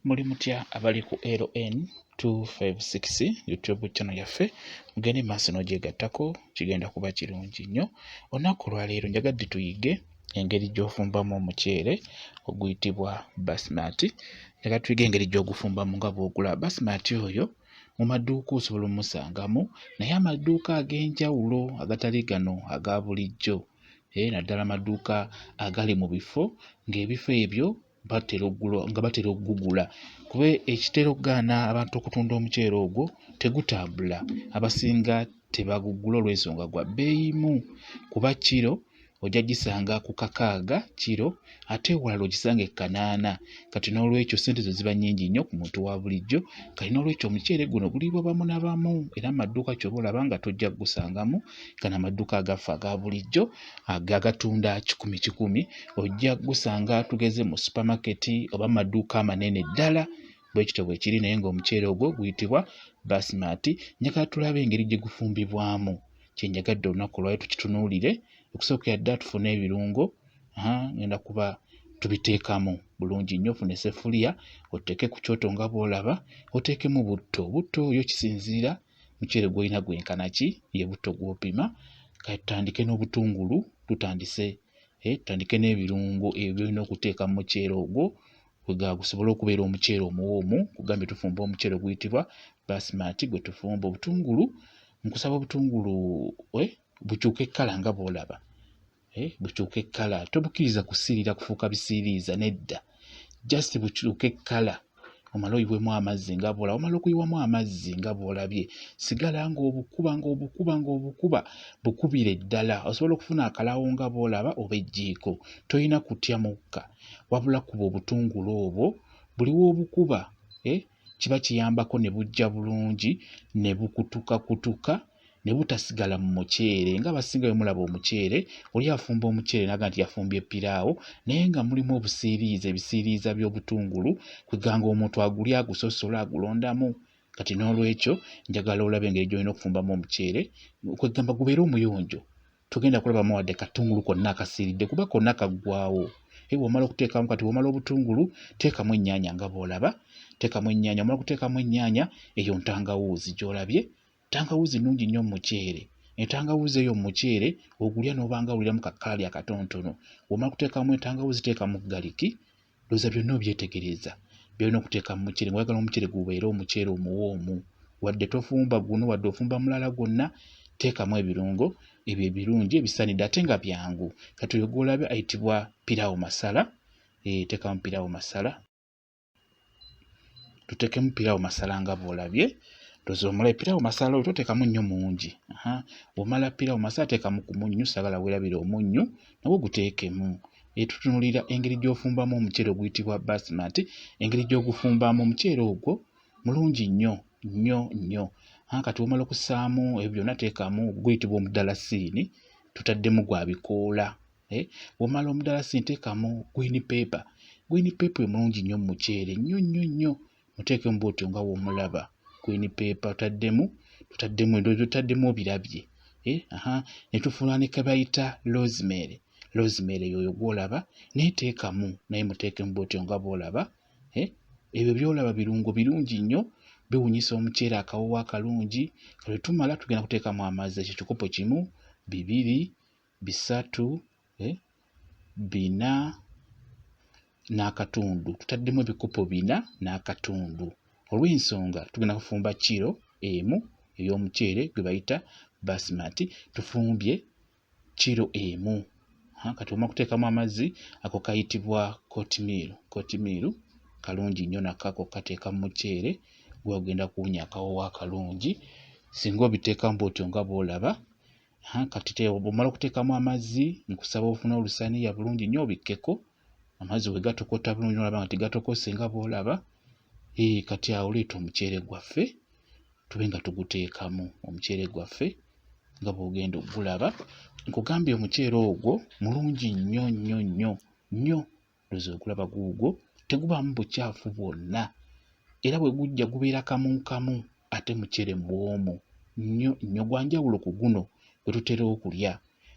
muli mutya abali ku ln 256 youtube channel yaffe mugende maaso n'ogyegattako kigenda kuba kirungi nnyo olunaku olwaleero njagadde tuyige engeri gy'ofumbamu omuceere oguyitibwa basmati njaga tuyige engeri gy'ogufumbamu nga bw'ogula basmati oyo mu maduuka osobola omusangamu naye amaduuka ag'enjawulo agatali gano aga bulijjo eh, naddala amaduuka agali mu bifo ng'ebifo ebyo nga batera okugugula kuba ekitera okugaana abantu okutunda omuceere ogwo tegutambula abasinga tebagugula olw'ensonga gwa bbeeyi mu kuba kiro ojja gisanga ku kakaaga kiro ate ewalala ogisanga e kanaana kati n'olwekyo ssente zo ziba nnyingi nnyo ku muntu wa bulijjo kati n'olwekyo omuceere guno guliibwa bamu na bamu era mu madduuka ky'oba olaba nga tojja kugusangamu gano amadduuka agaffe aga bulijjo agatunda kikumi kikumi ojja gusanga tugeze mu supamaketi oba mu madduuka amanene ddala bwe kityo bwe kiri naye ng'omuceere ogwo guyitibwa basimati njagala tulabe engeri gye gufumbibwamu kye njagadde olunaku olwayo tukitunuulire okusookera ddala tufune ebirungo ngenda kuba tubiteekamu bulungi nnyo ofune sefuliya oteeke ku kyoto nga bw'olaba oteekemu butto butto yo kisinziira muceere gwolina gwenkana ki ye butto gw'opima kati tutandike n'obutungulu tutandise eh, tutandike n'ebirungo ebyo byolina okuteeka mu muceere ogwo kwega gusobole okubeera omuceere omuwoomu kugambye tufumba omuceere oguyitibwa basimati gwe tufumba obutungulu nkusaba obutungulu eh, bukyuka ekkala nga bw'olaba eh, bukyuka ekkala tobukiriza kusiirira kufuuka bisiiriiza nedda just bukyuka ekkala omale oyiwemu amazzi nga bwola omala okuyiwamu amazzi nga bwolabye sigala ng'obukuba ng'obukuba ng'obukuba bukubire ddala osobola okufuna akalawo nga bwolaba oba ejjiiko tolina kutya mukka wabula kuba obutungulu obwo buliwo obukuba eh, kiba kiyambako ne bujja bulungi ne bukutukakutuka ne butasigala mu muceere nga abasinga bwe mulaba omuceere oli afumba omuceere naga nti yafumbye piraawo naye nga mulimu obusiiriiza ebisiiriiza by'obutungulu kweganga omuntu aguli agusosola agulondamu kati n'olwekyo njagala olabe engeri gy'olina okufumbamu omuceere kwegamba gubeere omuyonjo togenda kulabamu wadde katungulu konna akasiiridde kuba konna kaggwawo e bw'omala okuteekamu kati bw'omala obutungulu teekamu ennyaanya nga bw'olaba teekamu ennyaanya omala okuteekamu ennyaanya eyo ntangawuuzi gy'olabye ntangawuuzi nnungi nnyo mu muceere entangawuuzi eyo mu muceere ogulya n'obanga awuliramu kakkaali akatonotono bw'omala kuteekamu entangawuuzi teekamu galiki Ndowooza byonna obyetegereza byolina okuteeka mu muceere nga oyagala omuceere gubeere omuceere omuwoomu wadde tofumba guno wadde ofumba mulala gwonna teekamu ebirungo ebyo ebirungi ebisanidde ate nga byangu kati oyo gwolabye ayitibwa pirawo masala eh, teekamu pirawo masala tuteekemu pirawo masala nga bwolabye ndoza omulayi pirawo masala oyo toteekamu nnyo mungi omala pirawo masala teekamu ku munnyu sagala werabira omunnyu nagwo guteekemu era tutunuulira engeri gy'ofumbamu omuceere oguyitibwa basmati engeri gy'ogufumbamu omuceere ogwo mulungi nnyo nnyo nnyo kati womala okusaamu ebyo byonna teekamu guyitibwa omudalasiini tutaddemu gwa bikoola eh, womala omudalasiini teekamu gwini peepa gwini peepa omulungi nnyo mu muceere nnyo nnyo nnyo muteekemu bwotyo nga womulaba queen paper taddemu tutaddemu endoozi otaddemu obirabye eh, aha netufuula ne kebayita rosemary rosemary yoyo gwolaba naye teekamu naye muteekemu bwotyo nga bwolaba eh, ebyo byolaba birungo birungi nnyo biwunyisa omuceere akawowo akalungi kale tumala tugenda kuteekamu amazzi ekyo kikopo kimu bibiri bisatu, eh, bina n'akatundu tutaddemu ebikopo bina n'akatundu olw'ensonga tugenda kufumba kiro emu ey'omuceere gwe bayita basimati tufumbye kiro emu kati oma kuteekamu amazzi ako kayitibwa kotimiiru kotimiiru kalungi nnyo nakako kateeka mu muceere gwagenda kuwunya akawowo akalungi singa obiteekamu bwotyo nga bwolaba kati te bw'omala okuteekamu amazzi nkusaba ofune olusaniya bulungi nnyo obikkeko amazzi bwe gatokota bulungi n'olaba nga tegatokose nga bw'olaba ee kati awo leeta omuceere gwaffe tube nga tuguteekamu omuceere gwaffe nga bw'ogenda okugulaba nkugambye omuceere ogwo mulungi nnyo nnyo nnyo nnyo nze okulaba guugwo tegubaamu bucaafu bwonna era bwe gujja gubeera kamu kamu ate mucere mwomu nnyo nnyo gwa njawulo ku guno gwe tutera okulya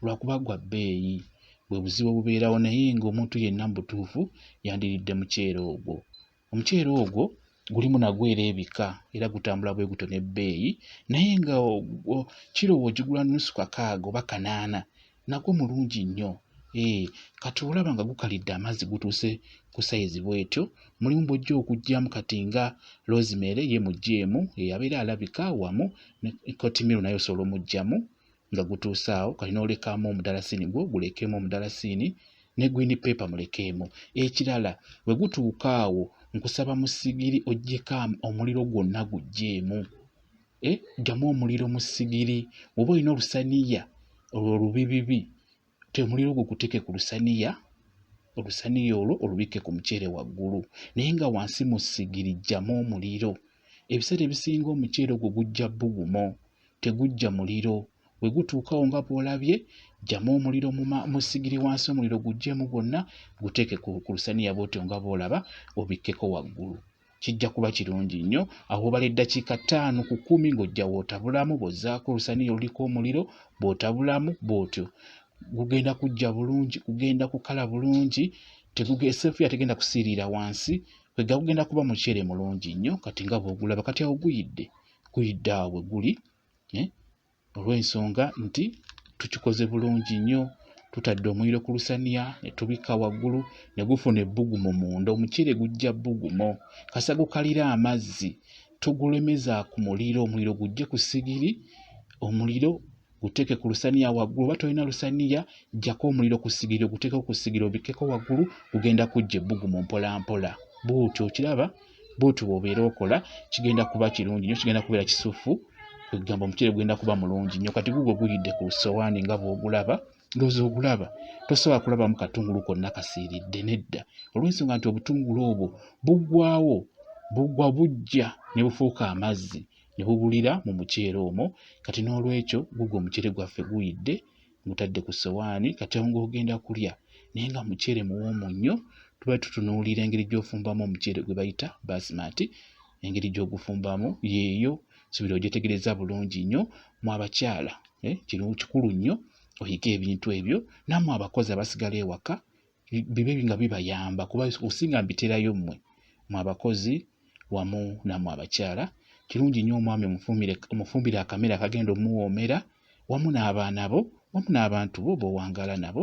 lwakuba gwa bbeeyi bwe buzibu obubeerawo naye ng'omuntu yenna mu butuufu yandiridde muceere ogwo Omuceere ogwo gulimu nagwo era ebika era gutambula bwe gutyo n'ebbeeyi naye nga kiro bw'ogigula nnusu kakaaga oba kanaana nagwo mulungi nnyo. Ee eh, kati olaba nga gukalidde amazzi gutuuse ku sayizi bw'etyo mulimu bw'ojja okuggyamu kati nga rosemary ye muggyeemu eyabeera alabika wamu ne kotimiro naye osobola omuggyamu nga gutuuse awo kati n'olekaamu omudalasiini gwo gulekeemu omudalasiini ne green paper mulekeemu ekirala bwe gutuuka awo nkusaba mu sigiri oggyeko omuliro gwonna guggyeemu eh, ggyamu omuliro mu sigiri oba olina olusaniya olwo lubibibi temuliro ogwo guteke ku lusaniya olusaniya olwo olubikke ku muceere waggulu naye nga wansi mu sigiri jjamu omuliro ebiseera ebisinga omuceere ogwo gujja bugumo tegujja muliro we gutuukawo nga bw'olabye jjamu omuliro mu sigiri wansi omuliro guggyemu gwonna guteeke ku lusaniya bwotyo nga bw'olaba obikkeko waggulu kijja kuba kirungi nnyo awo obala eddakiika ttaano ku kkumi ng'ojja wootabulamu bw'ozzaako olusaniya oluliko omuliro bw'otabulamu bw'otyo gugenda kujja bulungi gugenda kukala bulungi eseefu yategenda kusiiriira wansi kwegga gugenda kuba muceere mulungi nnyo kati nga bw'ogulaba kati awo guyidde guyidde awo bwe guli eh? olw'ensonga nti tukikoze bulungi nnyo tutadde omuliro ku lusaniya ne tubikka waggulu ne gufuna ebbugumo munda omuceere gujja bbugumo kasa gukalira amazzi tugulemeza ku muliro omuliro gujje ku sigiri omuliro guteeke ku lusaniya waggulu oba tolina lusaniya jjako omuliro ku sigiri oguteekeko ku sigiri obikkeko waggulu gugenda kujja ebbugumo mpolampola buuti okiraba bwotyo bwobeera okola kigenda kuba kirungi nyo kigenda kubeera kisufu kwegamba omuceere gugenda kuba mulungi nyo kati gugwo guyidde ku sowaani nga bwogulaba ndoza ogulaba tosobola kulabamu katungulu konna kasiiridde nedda olwensonga nti obutungulu obwo buggwawo bugwa bujja ne bufuuka amazzi ne bubulira mu muceere omwo kati n'olwekyo gugwo omuceere gwaffe guyidde mutadde ku ssowaani kati awo ng'ogenda kulya naye nga muceere muwoomu nnyo tuba tutunuulira engeri gy'ofumbamu omuceere gwe bayita basimati engeri gy'ogufumbamu yeeyo subira ogyetegereza bulungi nnyo mu abakyala eh, kino kikulu nnyo oyige ebintu ebyo nammwe abakozi abasigala ewaka bibe nga bibayamba kuba okusinga mbiterayo mmwe mu abakozi wamu namwe abakyala kirungi nnyo omwami omufumbire akamere akagenda omuwoomera wamu n'abaana bo wamu n'abantu bo b'owangaala nabo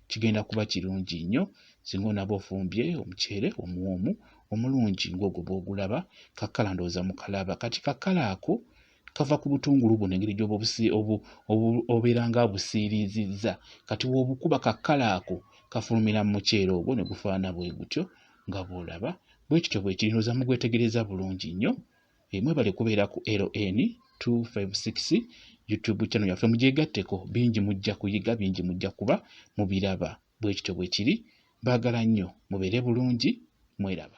kigenda kuba kirungi nnyo singa onaba ofumbye omuceere omuwoomu omulungi ng'ogwo bw'ogulaba kakkala ndowooza mukalaba kati kakkala ako kava ku butungulu buno engeri gyoba obeera nga abusiiriizizza kati wobukuba kakkala ako kafulumira mu muceere ogwo ne gufaana bwe gutyo nga bw'olaba bwe kityo bwe kiri ndowooza mugwetegereza bulungi nnyo eh, mwebale kubeera ku ln 256 youtube channel yaffe mugyegatteko bingi mujja kuyiga bingi mujja kuba mubiraba bwe kityo bwe kiri baagala nnyo mubeere bulungi mweraba